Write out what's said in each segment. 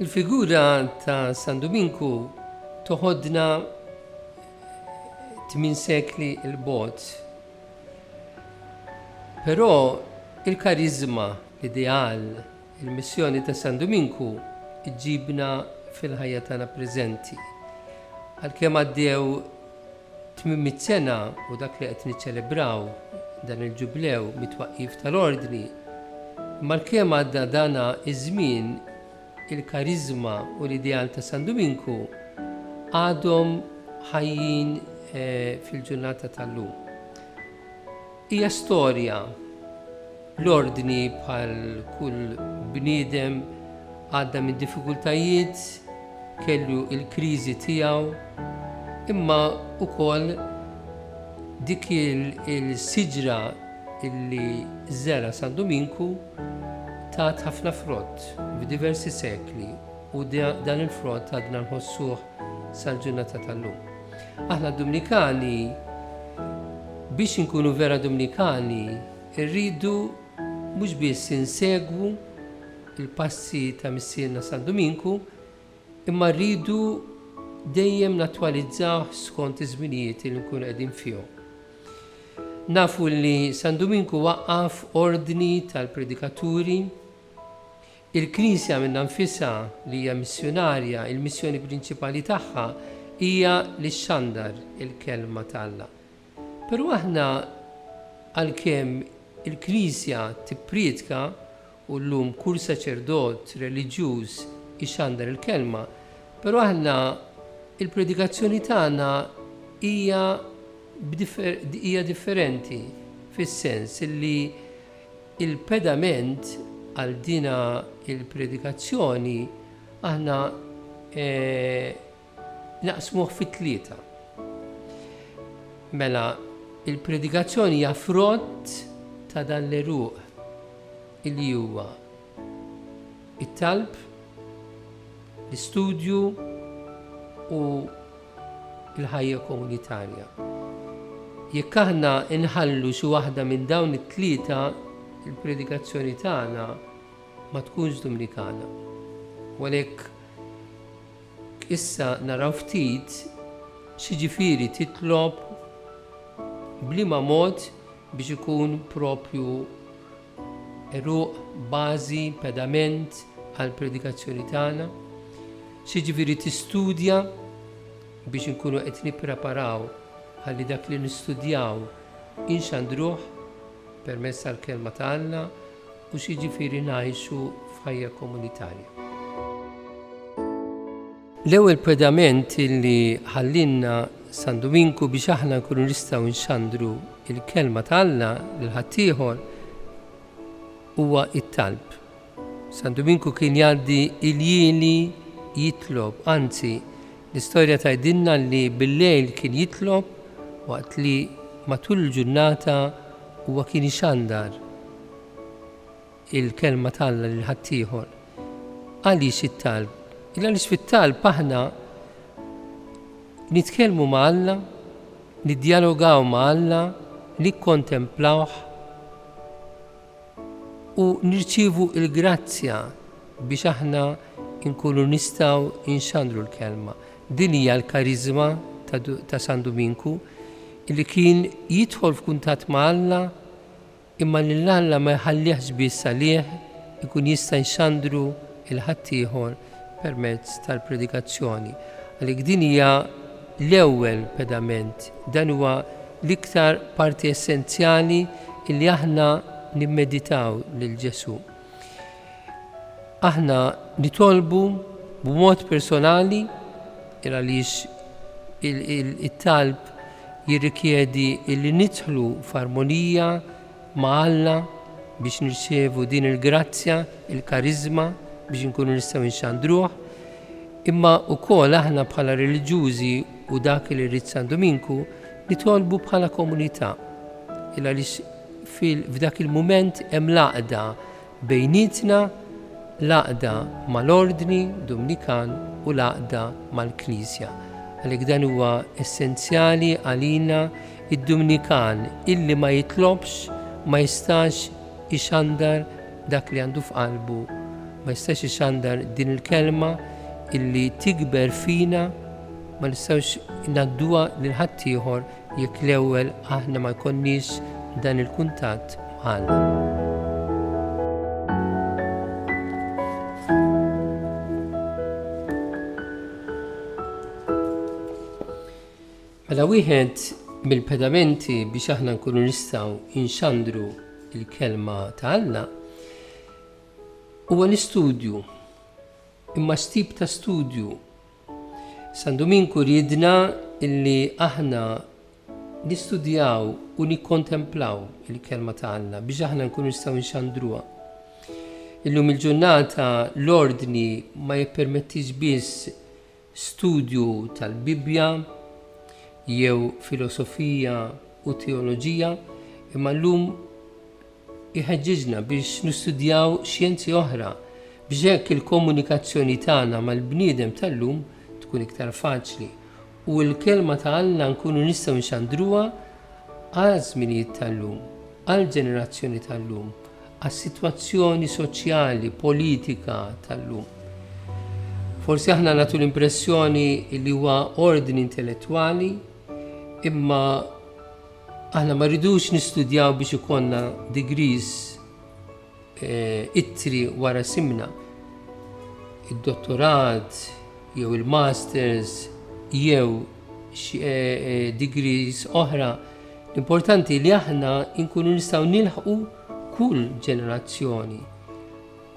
Il-figura ta' San Duminku toħodna tmien sekli il-bot. Però il-karizma, l-ideal, Il-missjoni ta' San Duminku ġġibna fil-ħajja tagħna preżenti. Għalkemm għaddew tmien mitt sena u dak li qed niċċelebraw dan il-Ġublew mit-twaqqif tal-Ordni, malkemm għadda dana ż-żmien, il-kariżma u l-ideal ta' San Duminku għadhom ħajjin fil-ġurnata tal-lum. Hija storja. L-Ordni bħal kull bniedem għadda minn diffikultajiet, kellu l-kriżi tiegħu, imma wkoll dik il-siġra li żera' San Duminku tat ħafna frott f'diversi sekli u dan il-frott għadna nħossuh sal-ġurnata tal-lum. Aħna Dumnikani, biex inkunu vera Dumnikani, irridu mhux biss insegwu l-passi ta' Missierna San Duminku, imma rridu dejjem nattwalizzawh skont iż-żminijiet li nkunu qegħdin fihom. Nafu li San Duminku waqqaf ordni tal-predikaturi Il-Knisja minnha nfisha, li hija missjunarja, il-missjoni prinċipali tagħha hija li xxandar il-Kelma ta' Alla. Però aħna, għalkemm il-Knisja tippriedka, u llum kull saċerdot reliġjuż ixxandar il-Kelma, però aħna l-predikazzjoni tagħna hija hija differenti, fis-sens li, Il-pedament għal dina il-predikazzjoni aħna naqsmuh fi tlieta. Mela, il-predikazzjoni hija frott ta' dan l-għeruq li huwa it-talb, l-istudju u l-ħajja komunitarja. Jekk aħna nħallu xi waħda minn dawn it-tlieta, il-predikazzjoni tagħna ma tkunx Dominikana. U għalhekk issa naraw ftit xiġifieri titlob bliema mod biex ikun propju Għeruq, bażi, pedament għall-predikazzjoni tagħna, x'jiġifieri tistudja biex inkunu qed nippreparaw ħalli dak li nistudjaw inxandruh permezz tal-Kelma ta' Alla u x'jiġifieri ngħixu f'ħajja komunitarja. L-ewwel pedament li ħallielna San Duminku biex aħna nkunu nistgħu nxandru l-kelma ta' Alla lil ħaddieħor huwa t-talb. San Duminku kien jgħaddi iljieli jitlob, anzi l-istorja tgħidilna li bil-lejl kien jitlob waqt li matul il-ġurnata huwa kien ixandar. il-Kelma t'Alla lil ħaddieħor. Għaliex it-talb? Il għaliex fit-talb aħna nitkellmu ma' Alla, niddjalogaw ma' Alla, nikkontemplawh u nirċievu l-grazzja biex aħna nkunu nistgħu inxandru l-kelma. Din hija l-kariżma ta' San Duminku li kien jidħol f'kuntatt ma' Alla Imma lil Alla ma jħallihx biss għalih ikun jista' jxandru l-ħaddieħor permezz tal-predikazzjoni. Għalhekk din hija l-ewwel pedament, dan huwa l-iktar parti essenzjali li aħna nimmeditaw lil Ġesù. Aħna nitolbu b'mod personali għaliex it-talb jirrikjedi li nidħlu f'armonija ma' Alla biex nirċievu din il-grazzja, il-kariżma biex inkunu nistgħu nxandruh. Imma wkoll aħna bħala reliġjużi u dak li rrid San Duminku nitolbu bħala komunità. Għaliex F'dak il-mument hemm l-għaqda bejnietna, l-għaqda mal-Ordni Dumnikan u l-għaqda mal-Knisja. Għalhekk dan huwa essenzjali għalina, id-Dumnikan illi ma jitlobx ma jistax ixandar dak li għandu f'qalbu, ma jistax ixandar din il-kelma illi tikber fina, ma nistgħux ngħadduha lil ħaddieħor. Jekk l-ewwel aħna ma jkollniex dan il-kuntatt ma' Alla. Mela wieħed mill-pedamenti biex aħna nkunu nistgħu inxandru il-kelma ta' Alla huwa l-istudju. Imma stib ta' studju San Duminku riedna illi aħna nistudjaw u nikkontemplaw il-Kelma ta' Alla biex aħna nkunu nistgħu nxandruha. Illum il-ġurnata l-ordni ma jippermettix biss studju tal-Bibbja jew filosofija u teoloġija, imma llum Iħeġġiġna biex nistudjaw xjenzi oħra biex hekk il-komunikazzjoni tagħna mal-bniedem tal-lum tkun iktar faċli u l-Kelma ta' Alla nkunu nistgħu nxandruha għaż-żminijiet tal-lum, għall-ġenerazzjoni tal-lum, għas-sitwazzjoni soċjali, politika tal-lum. Forsi aħna nagħtu l-impressjoni li huwa ordni intellettwali imma Aħna ma rridux nistudjaw biex ikollna degrees eh, ittri wara simna. Id-dottorat jew il-masters jew eh, eh, degrees oħra. L-importanti li aħna nkunu nistgħu nilħqu kull ġenerazzjoni,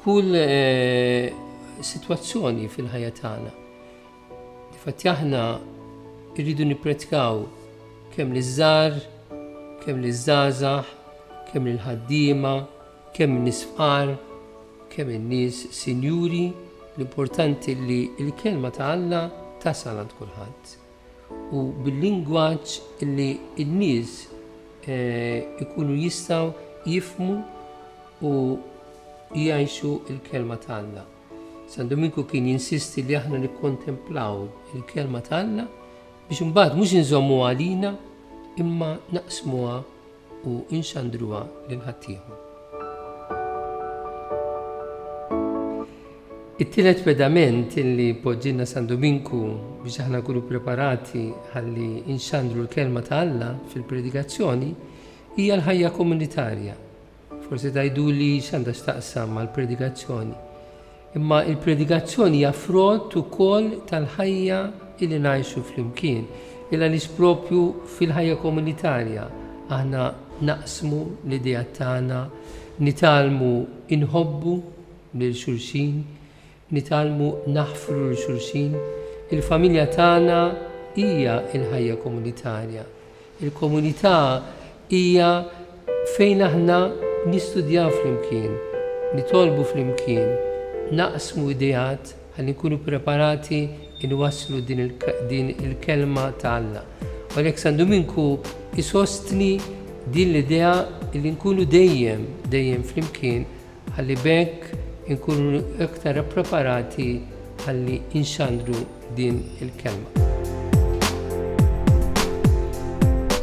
kull eh, situazzjoni fil-ħajja tagħna. Difatti aħna rridu nippretkaw kemm li żgħar, kemm li żgħażagħ, kemm lil ħaddiema, kemm in-nies fqar, kemm in-nies sinjuri, l-importanti li l-kelma ta' Alla tasal għand kulħadd. U bil-lingwaġġ li n-nies eh, ikunu jistgħu jifmu u jgħixu l-kelma ta' Alla. San Duminku kien jinsisti li aħna nikkontemplaw il-kelma ta' Alla biex imbagħad mhux inżommuha għalina imma naqsmuha u inxandruha lil ħaddieħor. It-tielet pedament li poġġinna San Dominku biex aħna nkunu preparati ħalli inxandru l-kelma ta' Alla fil-predikazzjoni hija l-ħajja komunitarja. Forsi tgħiduli x'għandha x'taqsam mal-predikazzjoni. Imma l-predikazzjoni hija frott ukoll tal-ħajja li ngħixu flimkien. Il għaliex propju fil-ħajja komunitarja aħna naqsmu l-ideat tagħna, nitgħallmu inħobbu lil xulxin, Nitgħallmu naħfru 'l xulxin, il-familja tagħna hija l-ħajja komunitarja. Il-komunità hija fejn aħna nistudjaw flimkien, nitolbu flimkien, naqsmu ideat ħalli nkunu preparati nwasslu din il-kelma ta' Alla. U għalhekk San Duminku jsostni din l-idea li nkunu dejjem, dejjem flimkien, ħalli b'hekk inkunu iktar ippreparati ħalli nxandru din il-kelma.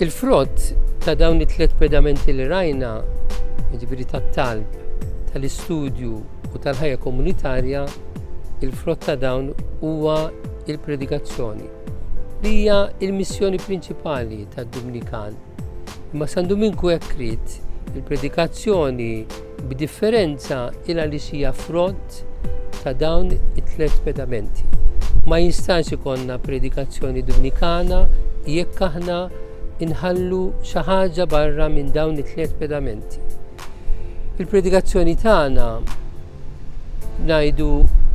Il-frott ta' dawn it-tliet pedamenti li rajna, jiġifieri tat-talb, tal-istudju u tal-ħajja komunitarja, il-frott ta' dawn huwa il-predikazzjoni li hija l-missjoni prinċipali tad-Dumnikan. Imma San Duminku hekk ried. Il-predikazzjoni, b'differenza, hi għaliex hija frott ta' dawn it-tliet pedamenti. Ma jistax ikollna predikazzjoni Dumnikana jekk aħna inħallu xi ħaġa barra minn dawn it-tliet pedamenti. Il-predikazzjoni tagħna ngħidu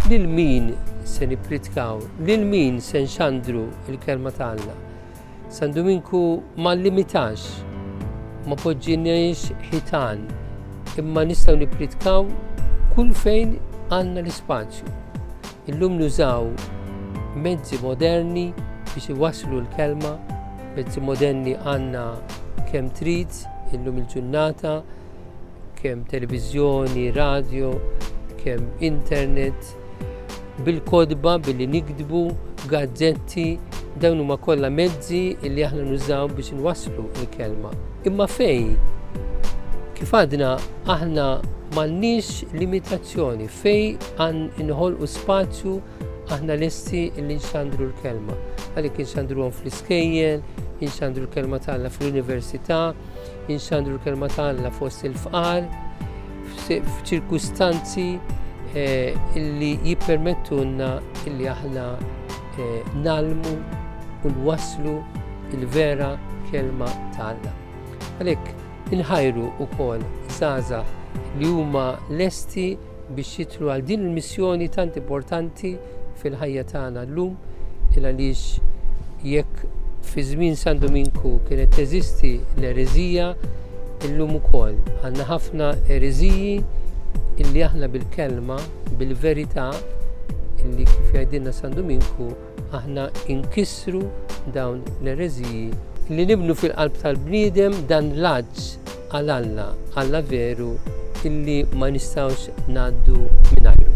lil min se nippritkaw, lil min se nxandru l-kelma ta' Alla. San Duminku ma llimitax, ma poġġiniex ħitan, imma nistgħu nippritkaw kull fejn għandna l-ispazju. Illum nużaw mezzi moderni biex iwasslu l-kelma, mezzi moderni għandna kemm trid illum il-ġurnata, kemm televiżjoni, radio, kemm internet, bil-kotba, billi nikdbu, gazzetti, dawn huma kollha mezzi li aħna nużaw biex inwasslu l-kelma. Imma fej, kif għadna aħna m'għandniex limitazzjoni, fej għan inħolqu spazju aħna lesti li nxandru l-kelma. Għalik nxandru għom fl-iskejjel, nxandru l-kelma tagħna fl-università, Inxandru l-kelma ta' Alla fost il-fqar f'ċirkustanzi eh, li jippermettunna li aħna eh, nalmu u nwasslu il-vera kelma ta' Alla. Għalhekk inħajru wkoll żgħażagħ li huma lesti biex jidħlu għal din il-missjoni tant importanti fil-ħajja tagħna llum il għaliex jekk fi żmien San Dominku kienet teżisti l-ereżija illum ukoll għandna ħafna ereżiji illi aħna bil-kelma, bil-verità illi kif jgħidilna San Dominku Aħna inkissru dawn l-ereżiji. Li nibnu fil-qalb tal-bniedem dan l-għatx għal Alla, Alla veru illi ma nistgħux ngħaddu mingħajru.